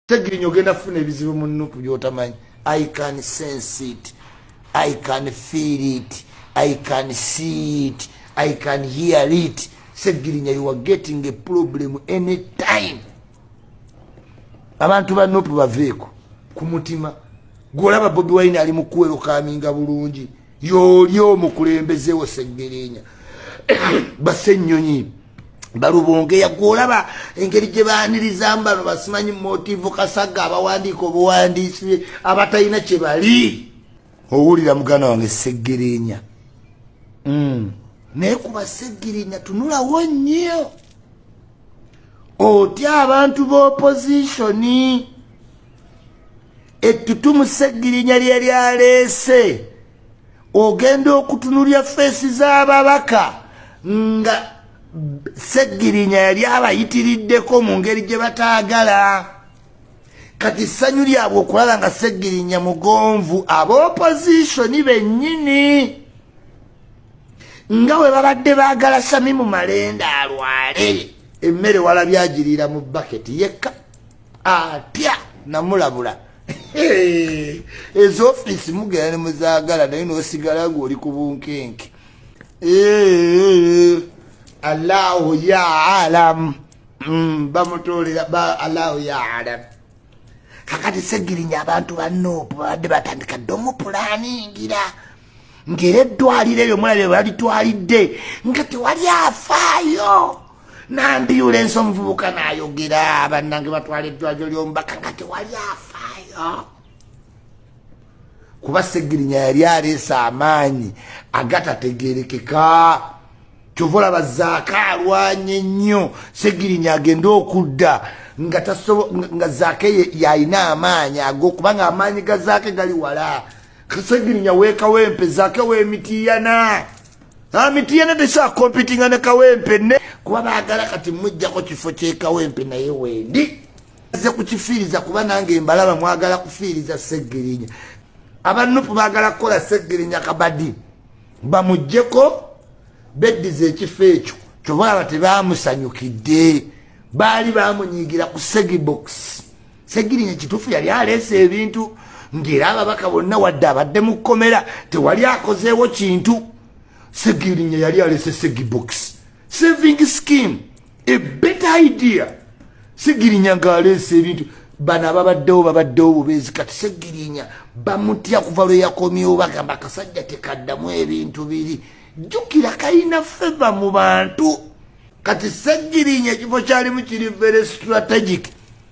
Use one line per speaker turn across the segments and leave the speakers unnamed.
tegirinya ogenda kufuna ebizibu mu nupu byotamanyi i can sense it i can feel it i can see it i can hear it segirinya you are getting a problem any time abantu ba nupu baveeko ku mutima gwolaba bobi wine ali mukuwerokaminga bulungi yooli omukulembezewo seggirinya basennyonyi balubongeya gwolaba engeri gye baanirizamu bano basimanyi motivu kasaga abawandiika obuwandiisi abatalina kye bali owulira muganda wange seggirinya mm. naye kuba seggirinya tunulawo nnyo otya abantu b'opozishoni ettutumu ssegirinya lye lyaleese ogenda okutunulya feesi z'ababaka nga ssegirinya yali abayitiriddeko mu ngeri gye bataagala kati ssanyu lyabwe okulaba nga ssegirinya mugonvu abaopozisoni bennyini nga we babadde baagala samimu malenda alwale emmere walabyagiriira mu baketi yekka atya namulabula ezo ofiisi mugera ne muzaagala naye n'osigala ng'oli ku bunkenke allahu ya alamu mm, bamutoolera allahu ya alamu kakati segirinya abantu banoopu babadde batandika dde omupulaningira ng'era eddwaliro eryo mulabye balitwalidde nga tewali afaayo nambyulensi omuvubuka nayogera bannange batwala eddwaliro ly'omubaka nga tewali afaayo kuba segirinya yali aleese amaanyi agatategerekeka kyova olaba zaaka alwanye ennyo segirinya agende okudda nga tasobo nga zaake yalina amaanyi ago kubanga amaanyi ga zaake gali wala kasegirinya wekawempe zake wemitiyana amitiyana tesa competinga ne kawempe ne kuba bagala kati mujjako kifo kyekawempe naye wendi ze kukifiiriza kuba nange mbalaba mwagala kufiiriza segirinya abanupu bagala kukola segirinya kabadi bamujjeko beddiza ekifo ekyo kyobalaba tebamusanyukidde baali bamunyigira ku segibokisi segirinya kitufu yali aleesa ebintu ngera ababaka bonna wadde abadde mu kkomera tewali akozeewo kintu segirinya yali alese segibox saving scheme a better idea segirinya ngaaleesa ebintu bano ababaddewo babaddewo bubeezi kati segirinya bamutya kuva lwe yakomyewo bagamba akasajja tekaddamu ebintu biri jjukira kalina feva mu bantu kati segirinya ekifo kyalimu kiri very strategic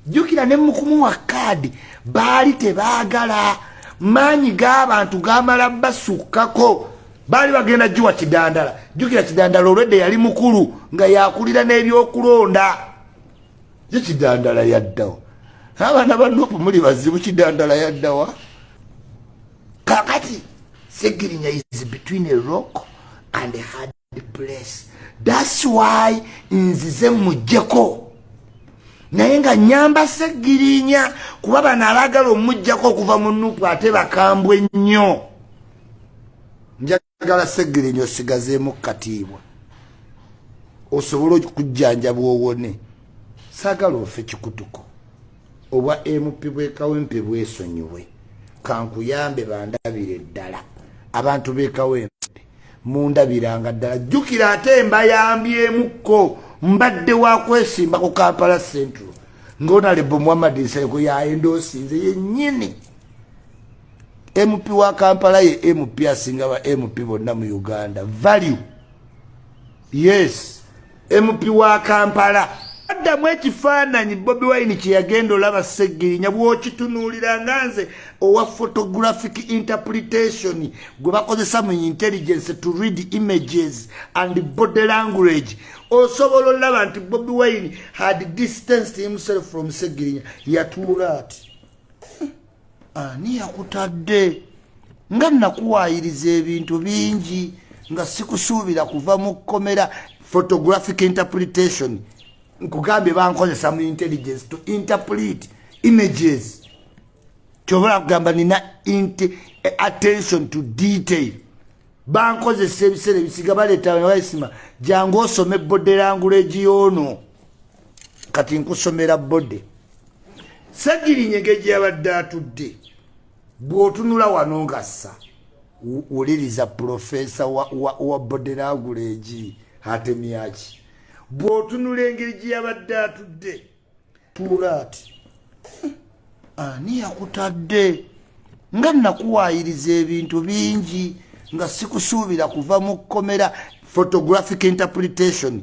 jjukira ne mukumuwa kaadi baali tebaagala maanyi g'abantu gamala basukkako baali bagenda giwa kidandala jjukira kidandala olwedde yali mukulu nga yakulira n'ebyokulonda ye kidandala yaddawa abaana ba nupu muli bazibu kidandala yaddawa kakati segirinya is between a rock and a hard place that's why nzize mujjeko naye nga nyamba segirinya kuba bano abagala omujjako okuva mu nupu ate bakambwe nnyo njagala segirinya osigazeemu katiibwa osobole okujjanja bwowone sagala ofe kikutuko obwa mp bwekawempe bwesonyiwe kankuyambe bandabire ddala abantu bekawempe mundabiranga ddala jjukira ate mbayambyemukko mbadde wakwesimba ku kampala central ngaonalebo muhammad nsereko yaendoosinze yenyini mp wa kampala ye mp asinga ba mp bonna mu uganda value yes mp wa kampala addamu ekifaananyi bobi wine kyeyagenda olaba segirinya bwokitunuulira nga nze owa photographic interpretation gwe bakozesa mu intelligence to read images and body language osobola olaba nti bobi wine had distanced himself from segirinya yatuula ati ani yakutadde nga nakuwayiriza ebintu bingi nga sikusuubira kuva mu kkomera photographic interpretation nkugambye bankozesa mu intelligence to interpret images kyobola kugamba nina eh, attention to detail bankozesa ebiseera ebisiga baleetawaisima jangu osome bode languleji yoono kati nkusomera bode ssegirinyege gye yabadde atudde bw'otunula wano ngassa wuliriza pulofeesa wa boderaagula egi atemyaki bw'otunula engeri gye yabadde atudde tuula ati ani yakutadde nga nakuwaayiriza ebintu bingi nga sikusuubira kuva mu kkomera photographic interpretation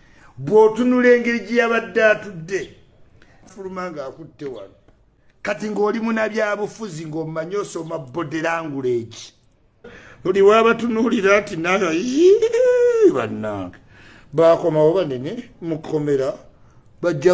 bw'otunula engeri gye yabadde atudde fuluma ng'akutte wano kati ng'oli munabyabufuzi ng'omanyi osoma boderanguleegi buli waabatunuulira nti naga bannange baakomawo banene mu kkomera bajja